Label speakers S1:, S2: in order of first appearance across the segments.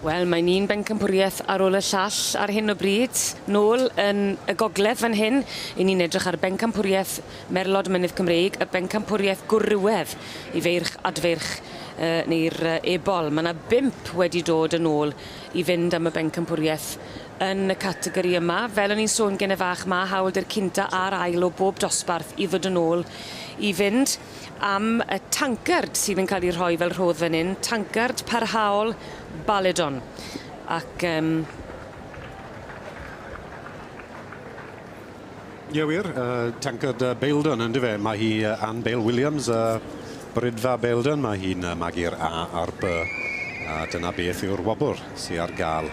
S1: Wel, mae'n un bencampwriaeth ar ôl y llall ar hyn o bryd. Nôl yn y gogledd fan hyn, i ni'n edrych ar bencampwriaeth Merlod Mynydd Cymreig, y bencampwriaeth gwrywedd i feirch adfeirch uh, neu'r uh, ebol. Mae yna bimp wedi dod yn ôl i fynd am y bencampwriaeth yn y categori yma. Fel o'n i'n sôn gen y fach, mae hawl dy'r cynta a'r ail o bob dosbarth i ddod yn ôl i fynd. am y tancard sydd yn cael ei rhoi fel rhodd fan hyn, tancard parhaol Baledon. Ac um,
S2: Ie wir, uh, tancard uh, Beildon yn dyfe. Mae hi uh, Anne Bale Williams, uh, Brydfa Beildon, mae hi'n uh, magu'r A a'r B. A dyna beth yw'r wobr sy'n ar gael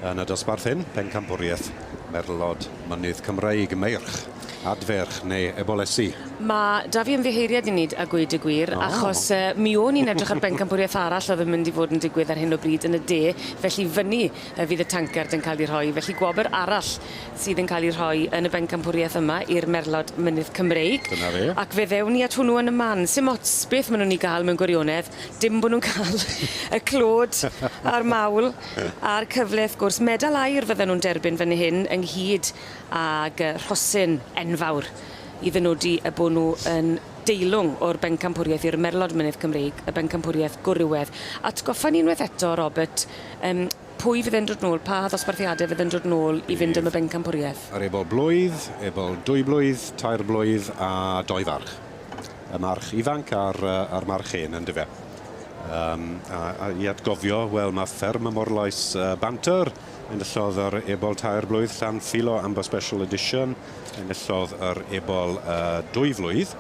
S2: Yn y dosbarth hyn, Pencampwriaeth, Merlod, Mynydd Cymreig, Meirch, Adferch neu Ebolesi? Mae 'da fi
S1: ymddiheuriad i nid a gweud y gwir, achos mi o'n i'n edrych ar bencampwriaeth arall oedd yn mynd i fod yn digwydd ar hyn o bryd yn y de, felly fyny fydd y tancard yn cael ei rhoi, felly gwobr arall sydd yn cael ei rhoi yn y bencampwriaeth yma i'r merlod Mynydd Cymreig. Dyna fe. Ac fe ddewn
S2: ni at hwnnw
S1: yn y man. Sim ots beth maen nhw'n ei gael mewn gwirionedd, dim bod nhw'n cael y clod a'r mawl Ie. A'r cyfle wrth gwrs medal aur fydden nhw'n derbyn fan hyn ynghyd ag yy rhosyn enfawr i ddynodi y bo' nhw yn deilwng o'r bencampwriaeth i'r merlod mynydd Cymreig, y bencampwriaeth gwrywedd. Atgoffa ni unwaith eto Robert yym pwy fydd e'n dod nôl, pa ddosbarthiade fydd yn dod nôl i fynd am y bencampwriaeth? Yr ebol blwydd,
S2: ebol dwy blwydd, tair blwydd a dou farch. y march ifanc a'r yy a'r march hen yndyfe? Yym a a i atgofio wel ma' fferm y Morlais yy Banter enillodd yr ebol tair blwydd Llan Philo Amber Special Edition enillodd yr ebol yy dwy flwydd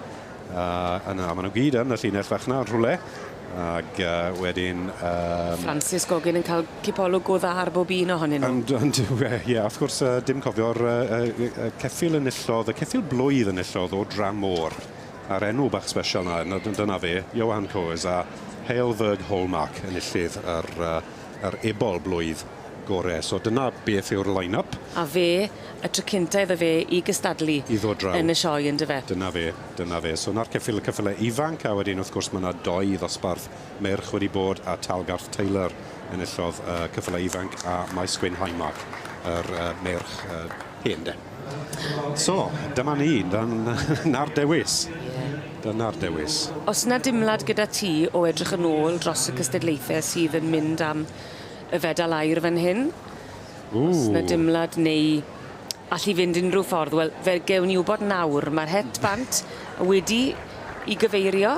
S2: yy yna ma' nw gyd yn y llinell fach 'na yn rhwle. Ag yy wedyn yym... Francis
S1: Goggin yn ca'l cipolwg go dda ar bob un ohonyn nw. Ond on'd yw e? Ie wrth gwrs yy
S2: dim cofio'r yy yy yy y ceffyl enillodd y ceffyl blwydd enillodd o dramor a'r enw bach sbesial 'na nawr d- dyna fe, Johan Coes a Hale Ferg Hallmark enillydd yr yy yr ebol blwydd gore. So dyna beth yw'r line-up. A fe,
S1: y tro cynta iddo fe i gystadlu... I ddod draw. ...yn y
S2: sioe yndyfe? Dyna
S1: fe. Dyna fe.
S2: So 'na'r ceffyl, y ceffyle ifanc, a wedyn wrth gwrs ma' 'na dou ddosbarth merch wedi bod, a Talgarth Taylor enillodd y ceffylau ifanc, a Maes Gwyn Highmark, yr yy merch yy hen 'de. So, dyma ni, dan- 'na'r dewis. Ie. Dyna'r dewis. O's 'na dimlad
S1: gyda ti o edrych yn ôl dros y cystadlaethe sydd yn mynd am y fedal aur fan hyn? Os na dimlad neu allu fynd unrhyw ffordd, wel, fe gewn ni wybod nawr. Mae'r het bant wedi i gyfeirio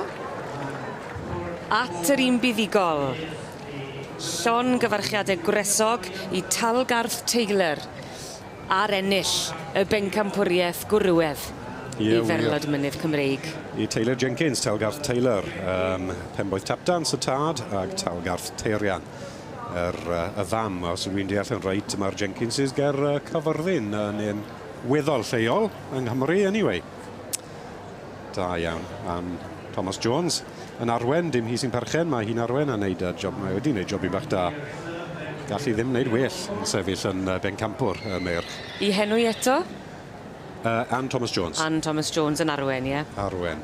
S1: at yr un buddugol. Llon gyfarchiade gwresog i Talgarth Taylor ar ennill y bencampwriaeth gwrywedd i Ferlod Mynydd Cymreig. Y Taylor Jenkins,
S2: Talgarth Taylor, ym Mhenboeth Tapdant y tad ag Talgarth Taerian. yr, y fam, os ydw i'n deall yn reit, mae'r Jenkinses ger uh, Cyfyrddin yn un weddol lleol yng Nghymru, anyway. Da iawn am Thomas Jones. Yn arwen, dim hi sy'n perchen, mae hi'n arwen a wneud y job, mae wedi wneud job i bach da. Gall hi ddim wneud well yn sefyll yn uh, bencampwr y meirch. I henwi eto?
S1: Uh,
S2: Anne Thomas Jones. Anne Thomas Jones yn
S1: arwen, ie. Yeah. Arwen.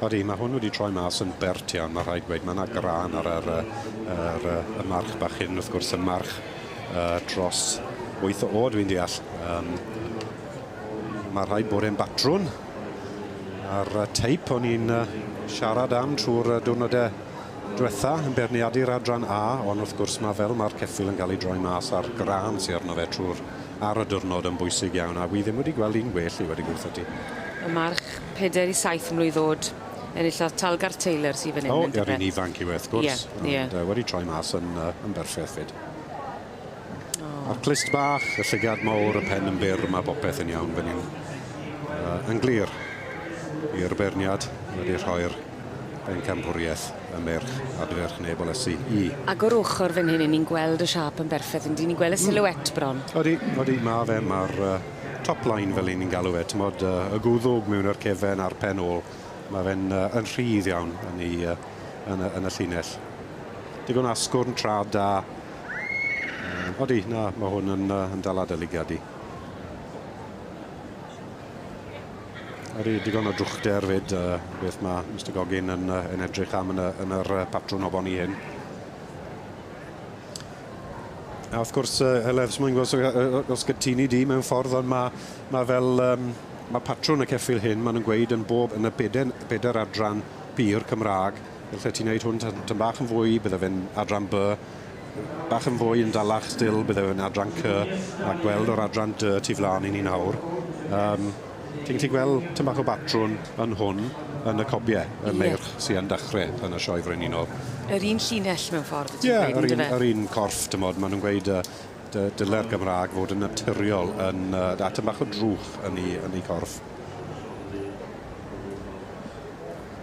S2: Ydy, mae hwn wedi troi mas yn bert iawn, mae rhaid gweud. Mae yna grân ar yr, yr, y march bach hyn, wrth gwrs, y march uh, dros 8 o oed, fi'n deall. Um, mae rhaid bod e'n batrwn a'r teip o'n i'n uh, siarad am trwy'r diwrnodau diwetha yn beirniadu'r adran A, ond wrth gwrs ma' fel ma'r ceffyl yn cael ei droi mas a'r grân sy arno fe trw'r ar y diwrnod yn bwysig iawn, a wi ddim wedi gweld un gwell i wedi gwrtho ti. Y march,
S1: peder i saith mlwydd o'd, enillodd Talgarth Taylor sy fan 'yn yndyfe? O, yr un ifanc yw e wrth
S2: gwrs. Ie, ie. Ond wedi troi
S1: mas yn
S2: yn berffeth 'fyd. A'r clust bach, y llygad mowr, y pen yn byr, mae popeth yn iawn fan hyn. Uh, yn glir i'r beirniad wedi rhoi'r bencampwriaeth y merch adferch neb o lesu i. Ac o'r ochr fan
S1: hyn, ni'n gweld y siâp yn berffaith, yndyn ni'n gweld y hmm. silhouette bron. Odi, odi, mae
S2: fe, mae'r uh, top line fel ni'n galw fe, tymod, uh, y gwddwg mewn yr cefen a'r pen ôl, mae fe'n uh, yn rhydd iawn yn, ei, uh, yn, y, yn y llinell. Digon asgwrn, trad da, Um, odi, na, mae hwn yn, uh, yn dal adolygiad i. Ar i digon o drwchder fyd, uh, beth mae Mr Goggin yn, uh, yn edrych am yn y, yn yr uh, patrwn o bon i hyn. A wrth gwrs, uh, Heledd, os mae'n gwybod os gytuni di mewn ffordd, ond mae, mae fel... Um, mae patrwn y ceffil hyn, maen nhw'n gweud yn bob yn y bedair, bedair adran pur Cymraeg, Allet ti wneud hwn tyn- tym bach yn fwy, bydde fe'n adran by, bach yn fwy yn dalach stil, bydde fe'n adran cy, a gweld o'r adran dy tu flan i ni nawr, yym, ti'n gallu gweld tym bach o batrwn yn hwn, yn y cobie, y Ie. meirch sy yn dachre yn y Sioe Frenhinol. Yr un llinell
S1: mewn ffordd ti'n Ie, gweud, yr un yndyfe? yr un
S2: corff, t'mod, ma' nw'n gweud yy dy- dyle'r Gymrâg fod yn naturiol yn yy a tym bach o drwch yn 'i yn 'i corff.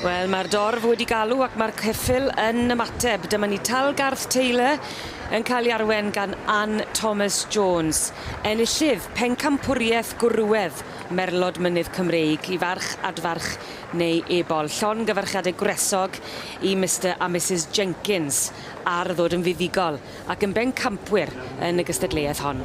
S1: Wel mae'r dorf wedi galw ac mae'r ceffyl yn ymateb. Dyma ni Talgarth Taylor yn cael ei arwen gan Ann Thomas Jones, enillydd pencampwriaeth gwrywedd Merlod Mynydd Cymreig i farch adfarch neu ebol. Llon gyfarchiadau gwresog i Mister a Misus Jenkins ar ddod yn fuddugol. ac yn bencampwyr yn y gystadleuaeth hon.